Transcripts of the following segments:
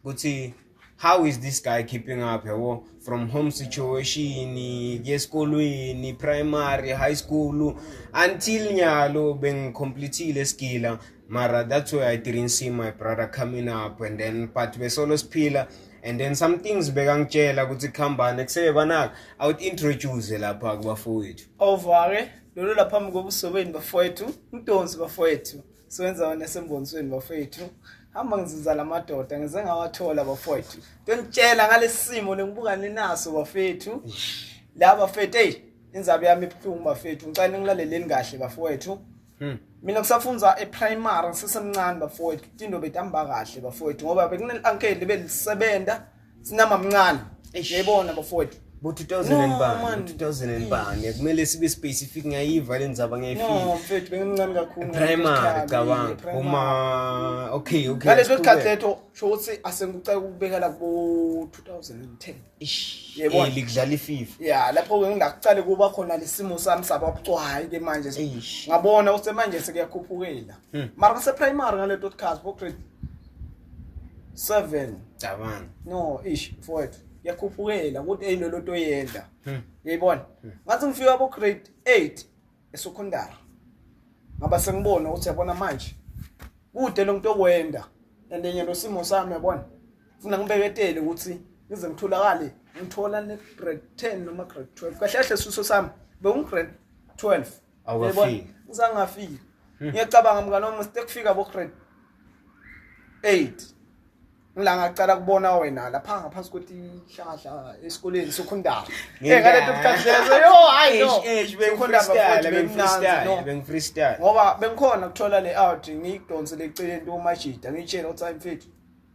ukuthi how is this guy keeping up yabo from home situation kuye esikolweni primary high school until nyalo bengicomplethile esigila mara that's why i didn't see my brother coming up and then but besolo siphila and then some things bekangitshela ukuthi kuhambane kusebe banaka i would introduce lapha kubafowethu ovake lolu laphambi kobuso benu bafowethu mdonsi bafowethu Swenza wena sembonisweni bafethu. Hamba ngizuza lamadoda ngize ngawathola bafethu. Tonitshela ngalesimo lengibuka ninaso bafethu. La bafethu hey inzaba yami ibuhlungu bafethu. Ngicela ningilaleleni kahle bafethu. Hmm. mina kusafundza eprimary ngisesemncane bafowethu tinto betihamba kahle bafowethu ngoba bekuneli-ankeli belisebenza sinama mncane yayibona bafowethu bo 2000 bani 2000 bani kumele sibe specific ngiyayiva le ndzaba ngiyayifika no mfethu bengimncane kakhulu primary cabanga uma okay okay ngale sikhathi letho sho ukuthi asengicela ukubekela kubo 2010 ish yebo likudlala ififa yeah lapho ke ngingaqale kuba khona lesimo sami sababucwayi ke manje ngabona usemanje sekuyakhuphukela hmm. mara se primary ngale totcast bo grade seven cabanga no ish mfowethu yakhuphukela ukuthi eyinto lento oyenza hmm. uyayibona hmm. ngathi ngifika ku grade 8 esecondary ngaba sengibona ukuthi yabona manje kude lo muntu okwenda and enye lo simo sami yabona funa ngibeketele ukuthi ngize ngitholakale ngithola ne grade 10 noma grade 12 kahle kahle siso sami bewu grade 12 awafiki ngizangafiki hmm. ngiyacabanga mngane wami sekufika bo grade 8 ngila ngacala kubona wena lapha ngaphansi kothi hlahla esikoleni sokhondaba eh ngale bukhasi lezo yo hayi no eish bengikhondaba futhi bengifreestyle no bengifreestyle ngoba bengikhona kuthola le out ngiyidonse leceleni to majida ngitshela uthi ayimfethu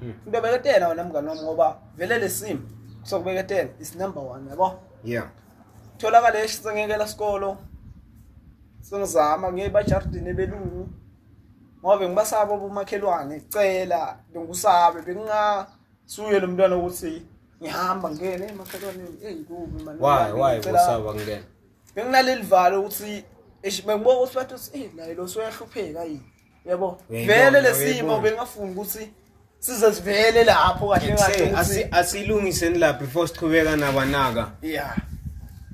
Hmm. Ngibeketela wena mngani wami ngoba vele lesimo sokubeketela is number 1 yabo. Yeah. Tholakala esingekela isikolo. Sengizama ngeba jardin ebelungu. Ngoba ngibasaba ubumakhelwane cela bengusabe benginga suye lo mntwana ukuthi ngihamba ngene emakhelwaneni hey kubi mani why why kusaba ngene benginaleli valo ukuthi bengibuka ukuthi bathi hey naye lo soyahlupheka yini yabo vele lesimo bengafuni ukuthi size sivele lapho kahle kahle asilungiseni la before siqhubeka nabanaka yeah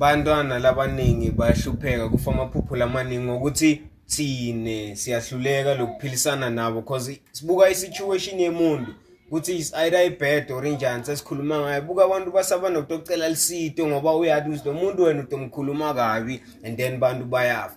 bantwana labaningi bayahlupheka kufa amaphupho lamaningi ngokuthi thine siyahluleka lokuphilisana nabo because sibuka i-situation yemuntu ukuthi is either ibad or injani sesikhuluma ngayo buka abantu basaba nokutocela lisito ngoba uyathi lo muntu wena utomkhuluma kabi and then bantu bayafa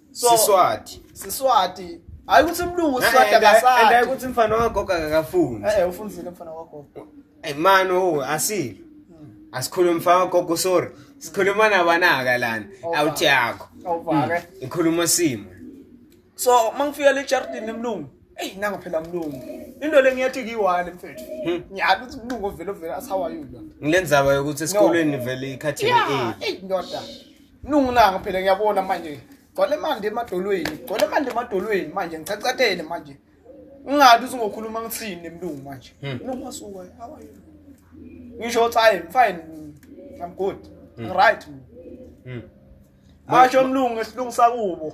so siswati siswati hayi ukuthi umlungu uswati akasati and ukuthi mfana wagogo akafuni eh ufunzile mfana wagogo eh man oh asilo asikhuluma mfana wagogo sorry sikhuluma nabanaka lana awuthi yakho awuvake hmm. ikhuluma simo so mangifika le chartin emlungu eyi nanga phela mlungu into le ngiyathi kiyiwani mfethu hmm. ngiyazi ukuthi mlungu ovele ovele asawayula ngile ndzaba yokuthi esikolweni vele ikhathini eyi ndoda Nunginanga phela ngiyabona manje. Gcwale manje emadolweni. Gcwale manje emadolweni manje ngichachathele manje. Ungathi usungokhuluma ngithini emlungu manje. Hmm. Nongasuka how are you? Ngisho cha I'm fine. I'm good. Hmm. I'm right. Hmm. Asho umlungu esilungu sakubo.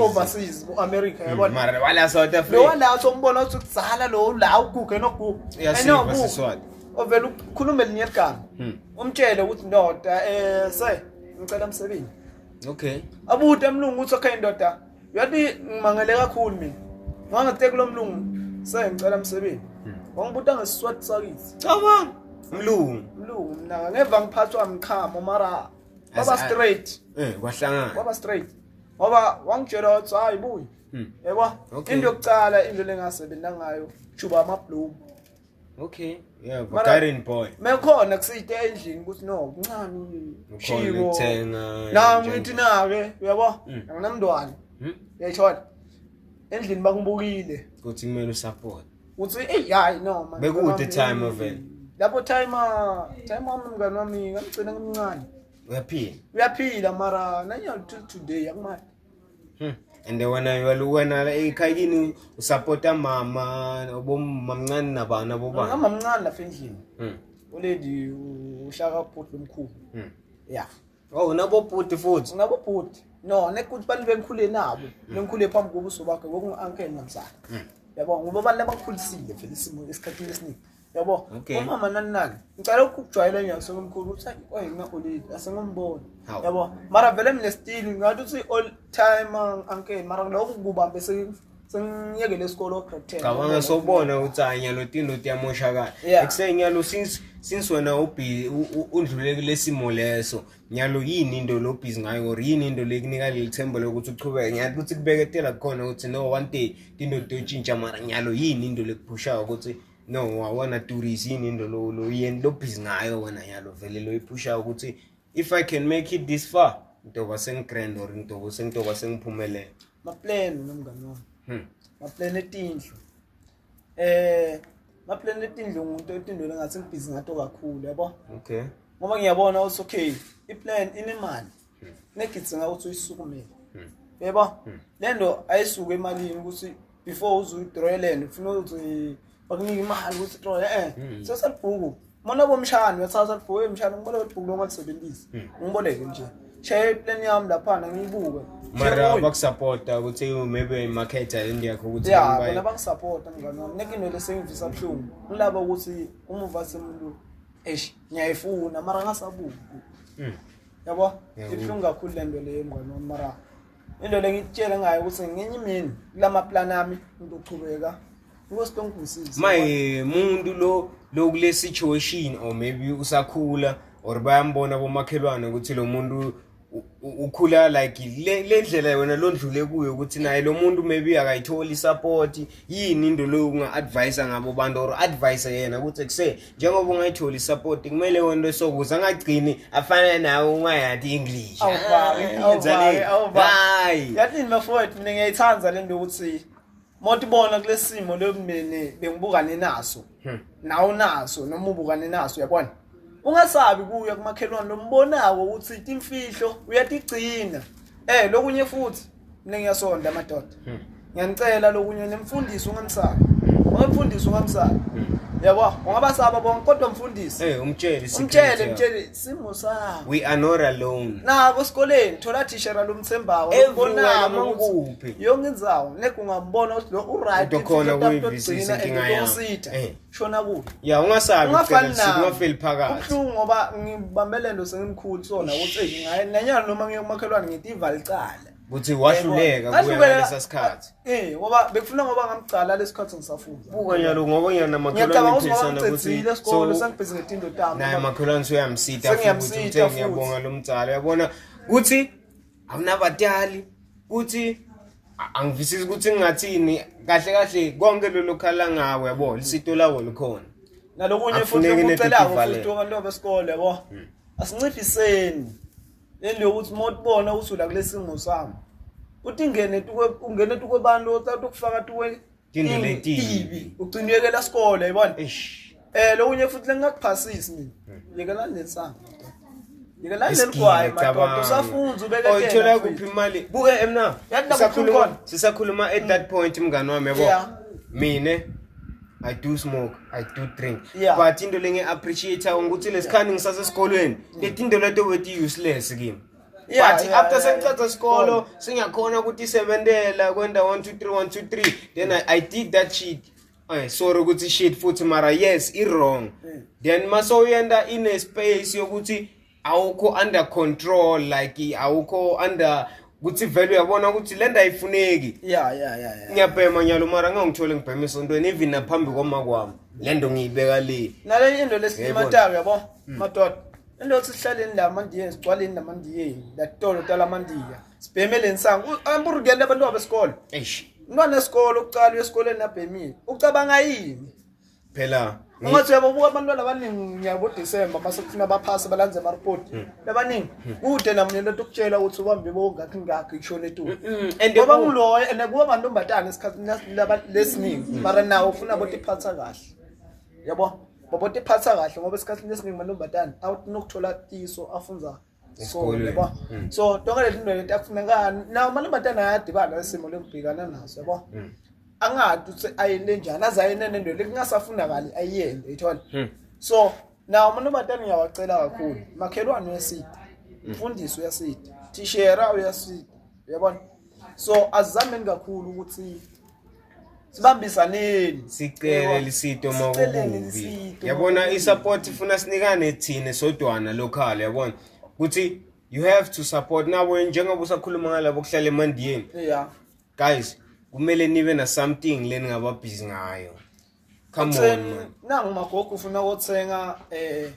overseas bo-america hmm, yabona wala south africa lowa la sombona uthi kudzala lo la uguge noguge enoguge ovele ukhulume linye ligama hmm. umtshele ukuthi ndoda um se ngicela msebenzi okay abude mlungu uthi okay ndoda yathi ngimangele kakhulu mina ngangithe kulo mlungu se ngicela msebenzi hmm. wangibuta ngesiswati sakithi cabanga mlungu mlungu mnaka ngeva ngiphathwa mkhamo mara kwaba straight eh kwahlangana kwaba straight ngoba wangitshela wathi hayi buyi hmm. yebo into yokucala into lengasebenza ngayo juba ama bloom okay yeah Bulgarian boy mekhona kusite endlini ukuthi no kuncane ushilo uthenga na ngithi na ke uyabo hmm. anginamntwana hmm. yayithola endlini bakubukile ukuthi kumele usupport uthi eyi hayi no man bekude time ovele lapho time ah, time wami mngani wami ngamgcina ngimncane uyaphila uyaphila mara nanya till today akumali hmm. and wena wena ekhaya kini usupporta mama obomamncane nabani abobani amamncane lapha endlini hmm. oledi ushaka photlo omkhulu hmm. yeah Oh unabo bhuti futhi. Unabo bhuti. No, nekuthi bantu bengikhule nabo. Mm. Bengikhule phambi kobuso bakhe ngoku uncle nomzala. Mm. Yabo ngoba abantu abakhulisile vele isimo esikhathini esiningi. Yabo. Umama nani nani. Ngicela ukujwayela nje somkhulu uthi oy mina olile asengombona. Yabo. Mara vele mina still ngathi uthi all time uncle mara lokho kubambe sekuthi sengiyekele isikole ograde ten cabanga sobona ukuthi hayi nyalo tindo tiyamoshakala Yeah. ekuseni nyalo since since wena ubhi- u- u- undlule kulesimo leso nyalo yini into lobhizi ngayo or yini into lekunika leli themba lokuthi uqhubeke nyalo ukuthi kubeketela kukhona ukuthi no one day tindo tiyotshintsha mara nyalo yini into lekuphushayo ukuthi no wawona tourist yini into lo- lo- yini lobhizi ngayo wena nyalo vele loyiphushayo ukuthi if i can make it this far ngitoba sengigrand or ngitoba sengitoba sengiphumelele maplane nomngane wami hmm. maplane etindlu eh maplane etindlu umuntu etindweni engathi ngibhizi ngato kakhulu yabo okay ngoba ngiyabona ukuthi okay iplan inemali hmm. negidzinga ukuthi uyisukumele hmm. yebo hmm. lento ayisuke emalini ukuthi before uze uyidraw lento ufuna ukuthi bakunika imali ukuthi qo eh hmm. sesalibhuku mona bomshana uyathatha libhuku emshana ngibona ukuthi bhuku longakusebenzisi hmm. ngiboleke nje share plan yami lapha ngiyibuke mara bakusapota ukuthi maybe marketer endiyakho ukuthi ya bona bangisapota mngane wami neke into lesengivisa buhlungu ngilaba ukuthi umuva semulu eish ngiyayifuna mara ngasabuku hmm. yabo ibuhlungu kakhulu le nto leyo mngane wami mara into lengikutshela ngayo ukuthi ngenye imini kulama plan ami into uqhubeka inkosi tongisisi maye muntu lo lokule situation or maybe usakhula or bayambona bomakhelwane ukuthi lo muntu ukhula like le ndlela wena londlule kuyo ukuthi naye lo muntu maybe akayitholi support yini into leyo unga-advise ngabo bantu or advise yena ukuthi kuse njengoba ungayitholi isapoti kumele wonto esokuza angagcini afane nawe ungayathi english hayi yathini bafowethu mina ngiyayithanda le nto yokuthi mothi bona kule simo leyo mndeni bengibukane naso hmm. nawe unaso noma ubukane naso uyabona ungasabi kuya kumakhelwane lombonako ukuthi imfihlo uyatigcina eh lokunye futhi mina ngiyasonda amadoda hmm. ngiyanicela lokunye nimfundisi ungamsaba ungamfundisi ungamsaba hmm. yabo ungabasaba bonke kodwa mfundisi eh umtshele umtshele mtshele simo sakho we are not alone nako esikoleni thola tishera lomthembawo ubona manguphi yonke inzawo nekungamubona ukuthi lo uright ukhona kuyivisi inkinga yakho shona kubi ya ungasabi ungafani nami ungafeli phakathi ubuhlungu ngoba ngibambe lento sengimkhulu sona ukuthi hey ngaye nanyalo noma ngiyomakhelwane ngithi ivalicala ukuthi wahluleka kuya lesa sikhathi eh ngoba bekufuna ngoba ngamgcala lesikhathi ngisafunda buka nyalo ngoba ngiyana makhelwane ngiyacabanga ukuthi ngicela isikole sangibhizi ngetindo tami naye makhelwane uyamsita futhi uthe ngiyabonga lomdzala yabona ukuthi awunabatali kuthi angivisisi ukuthi ngingathini kahle kahle konke lolo khala ngawe yabo lisito lawo likhona nalokunye futhi ukucelayo futhi abantu abesikole yabo hmm. asinciphiseni lento yokuthi uma utibona ukuthi ula kulesimo sami uthi ingene tukwe ungene tukwe bantu othatha ukufaka tukwe Tindwe letibi. Ucinekela sikole yibona. Eish. Eh lo unye futhi lengakuphasisi mina. Yekela nensanga. Yekela leligwayi madoda usafunza ubeke tena. Oyithola kuphi imali? Buke emna. Sisakhuluma sisakhuluma at that point mngani wami yabo. Mina I do smoke, I do drink. Yeah. But into lengi appreciate ukuthi lesikhani ngisasesikolweni. Letinto leto wethi useless kimi. Yeah, but yeah, after yeah, sengicacca yeah. isikolo singakhona ukuthi isebentela kwenda 1 2 3 1 2 3 then I, I did that shit Ay, sorry ukuthi shit futhi mara yes i wrong mm. then mase uyenda in a space yokuthi awukho under control like awukho under ukuthi vele uyabona ukuthi le nto ayifuneki ya ya ya ngiyabhema nyalo mara ngangithole ngibhema esontweni even naphambi kwama kwami le nto ngiyibeka le nale into lesilimatayo yabo mm. madoda Indothi sihlaleni la mandiye sigcwaleni la mandiye la tolo tala mandiya. Sibhemele insangu. Amburugele abantu abesikole. Eish. Umntwana esikole ukucala esikoleni nabhemile. Ucabanga yini? Phela Ungathi uyababuka abantwana abaningi ngiyabo December mase kufuna baphase balanze ama report. Hmm. Labaningi hmm. kude nami lento ukutshela ukuthi ubambe bongakhi ngakho ishona etu. Hmm, Ngoba nguloyo and kuba mantombazane esikhathi lesiningi mara nawo ufuna bothi phatha kahle. yabo baba tiphatha kahle ngoba esikhathini esiningi amantombazane awuthi nokuthola iso afunza so yabo hmm. so tonke lezi zinto leti akufunekani nawo amantombazane ayadibana isimo lokubhekana naso yabo hmm. angadi ukuthi ayende njani aze ayende nento lekungasafunakali ayiyende uyithola hmm. so nawo amantombazane ngiyawacela kakhulu makhelwane uyasida mfundisi uyasida thishera uyasida uyabona so azizameni kakhulu ukuthi sibambisaneni sicele lisito makubi yabona isupport ifuna sinikane thina sodwana local yabona ukuthi you have to support nawe njengoba usakhuluma ngalabo kuhlala emandiyeni yeah guys kumele nibe na something leningaba busy ngayo Come on man. Nangu magogo ufuna ukuthenga eh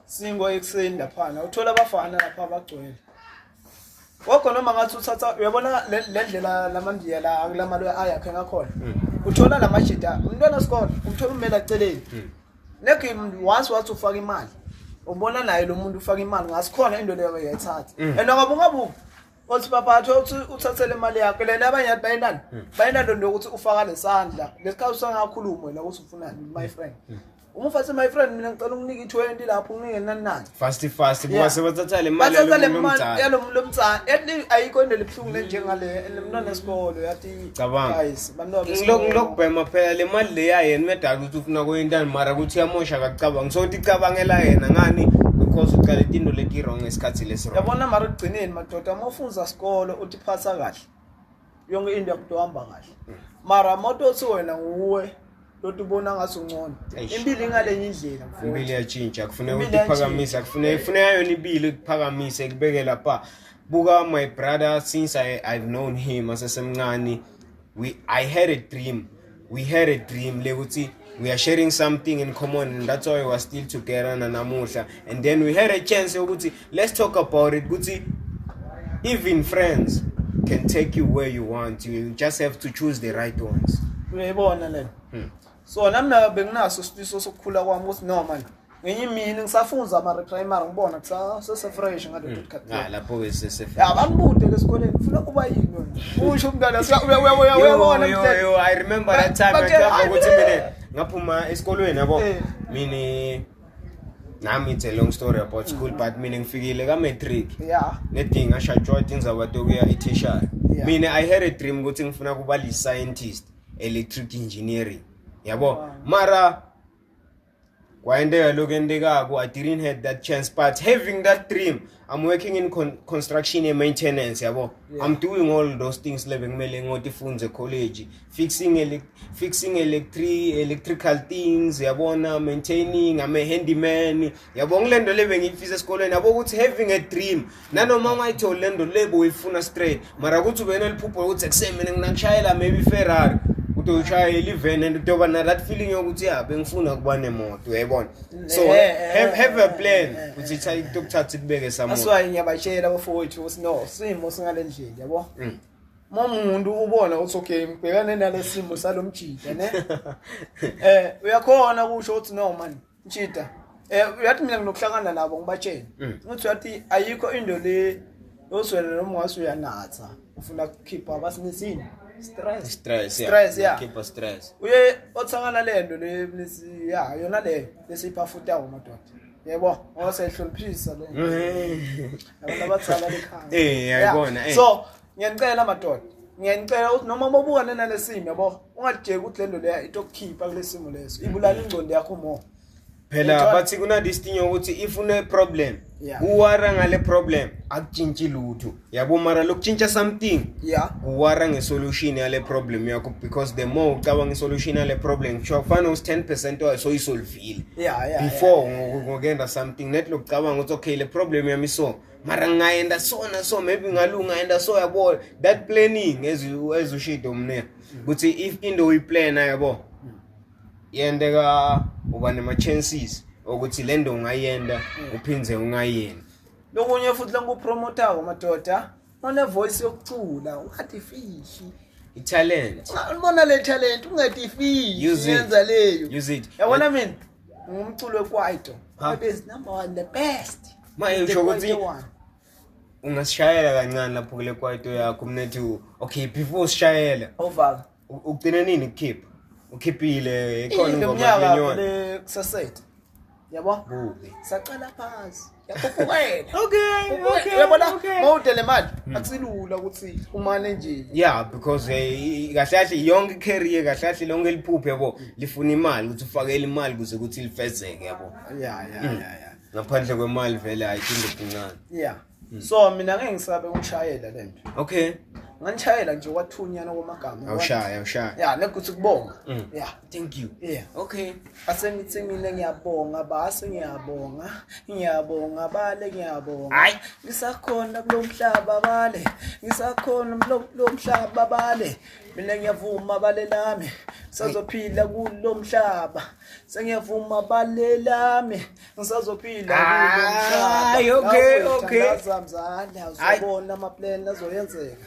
singo ekuseni laphana. Uthola abafana lapha abagcwele. Gogo noma ngathi uthatha uyabona le ndlela lamandiya la akulamali ayakhe ngakhona. Hmm. Uthola lamajita umntwana wesikole umthola umela celeni. Hmm. Negi once wathi ufaka imali. Ubona naye lo muntu ufaka imali ngasikhona into leyo yayithatha. Hmm. And ngoba ungabuki othi baphathi othi uthathele imali yakho lena abanye yathi bayinani hmm. bayinalo nto yokuthi ufaka lesandla lesikhathi usangakhulumi wena ukuthi ufunani my hmm. friend hmm. uma ufathi my friend mina ngicela unginike i-20 lapho unginike nani nani fast fast kuba sebathatha le mali yalo mntana yalo mntana ethi ayikho into elibuhlungu lenjengale enemntwana esikolo yathi cabanga ngilokubhema phela le mali leya yena umedala ukuthi ufuna kuyintani mara ukuthi uyamosha kakucabanga so ukuthi icabangela yena ngani because ucala itinto leti-wrong ngesikhathi lesirong yabona mara ekugcineni madoda uma ufunza sikolo uthi phatha kahle yonke into yakuthi uhamba kahle mara moto othi wena nguwe lodwa ubona ngathi ungcono Eish. impilo ingalenye indlela mfowethu. impilo iyatshintsha kufuneka Impilo ukuthi iphakamise kufuneka ifuneka yona impilo ikuphakamise ikubeke lapha buka my brother since I, i've known him asesemncane we i had a dream we had a dream lekuthi we are sharing something in common and that's why we are still together nanamuhla and then we had a chance yokuthi let's talk about it ukuthi even friends can take you where you want you just have to choose the right ones uyayibona le hmm. so nami nayo benginaso isifiso sokukhula kwami ukuthi no manje ngenye imini ngisafunza ama-reprimary ngibona kusasefresh ngalapho-ke sesebangibude ke esikoleni funa kuba yini usho umntwana uyabona i remember that time ukuthi mina ngaphuma esikolweni yabo eh. mina nami it's a long story about school mm. but mina ngifikile ka-matric yeah. nedingi ngashatshwa tindzaba tokuya etishara yeah. mina i had a dream ukuthi ngifuna kuba li-scientist electric engineering yabo wow. mara kwayenteka lokhu entekako i didn't have that chance but having that dream I'm working in con construction and maintenance yabo yeah. I'm doing all those things le bekumele ngotifunze college fixing ele fixing electric electrical things yabona maintaining I'm a handyman yabo ngilento le bengiyifisa esikolweni yabo ukuthi having a dream nanoma ungayitholi lento le boyifuna straight mara ukuthi ube neliphupho lokuthi ekuseni mina nginakushayela maybe iferrari ukuthi uyishayele iveni and utoba na that feeling yokuthi ya bengifuna ukuba nemoto uyayibona so eh, eh, have, have a eh, plan ukuthi itokuthatha ikubeke samoto that's why ngiyabatshela abafowethu sino simo singale ndlela yabo mm. uma umuntu ubona ukuthi okay ngibhekane nalesimo salomjida ne eh uyakhona kusho ukuthi no man Ntshita eh uyathi mina nginokuhlangana nabo ngibatshene mm. uthi uyathi ayikho into le yozwela noma ungathi uyanatha ufuna ukukhipha abasinisini stress stress stress yeah keep stress uye othangana lento le mnisi ya yona le lesipha futhi awu madoda yebo ngosehloniphisa le mm. abantu abadala lekhaya eh yayibona eh. so ngiyanicela madoda ngiyanicela ukuthi noma mobukane nalesimo yabo ungajeki ukuthi lento leya itokukhipha kulesimo leso ibulala ingcondo yakho more phela bathi kuna this thing ukuthi if une problem yeah. uwara ngale problem akutshintshi lutho yabo mara lokutshintsha something yeah. uwara ngesolution yale problem yakho because the more ucabanga isolution yale problem kusho kufanele usi 10 percent wayo soyisolvile yeah, yeah, before yeah, yeah. ngokuyenda something net lokucabanga ukuthi okay le problem yami so mara ngingayenda so na so maybe ngalunga ngayenda so yabo that planning as you as you shit umne ukuthi if into uyiplana yabo yendeka uba nema chances ukuthi le nto ungayenda uphinde ungayenda lokunye futhi langupromotawo madoda onevoice yokucula ungathi fishi italent ubona le talent ungathi fishi yenza leyo yabona mina Ngumculo wekwaito. Ha? Ebe is number one, the best. Manje The usho ukuthi kwaito one. ungasishayela kancane lapho kule kwaito yakho mnethu. Okay, before usishayela Oval. u- ugcina nini kukhipha? Ukhiphile ikhona Ile ingoma mnyaka yenyoni. le kusasethe. Yabo? Bubi. Saqala phansi. Ubuwena. Okay, Ubuwena. okay, Uyabona okay. Hmm. mawudele imali akusilula ukuthi umane nje. yeah because eh, kahle kahle yonke career kahle kahle lonke liphuphe yabo lifuna imali ukuthi ufakele imali kuze ukuthi lifezeke yabo Yeah, yeah, yeah, yeah. ngaphandle kwemali vele ayithinda kuncane Yeah. Hmm. So mina ngeke ngisabe ukushayela lento. okay Nganishayela nje wathunyana komagama. awushaya awushaya Yeah, nekuthi kubonga. Mm. Yeah. thank you yeah okay asengithi mina ngiyabonga base ngiyabonga ngiyabonga bale ngiyabonga hayi ngisakhona kulomhlaba bale ngisakhona kulomhlaba bale mina ngiyavuma bale lami ngisazophila kulomhlaba sengiyavuma bale lami ngisazophila kulomhlaba okay okay azamzala uzobona ama plan azoyenzeka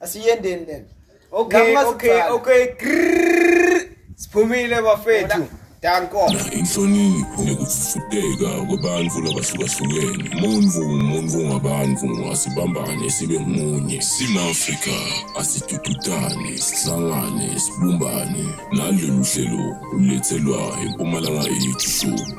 Asiyendeni lena. Okay, okay, okay. Siphumile bafethu. Danko. Inhlonipho nekufudeka kwabantu labahlukahlukene. Umuntu umuntu ngabantu asibambane sibe munye. Sima-Afrika asidududane, sihlangane, sibumbane. Nalolu hlelo ulethelwa impumalanga yethu show.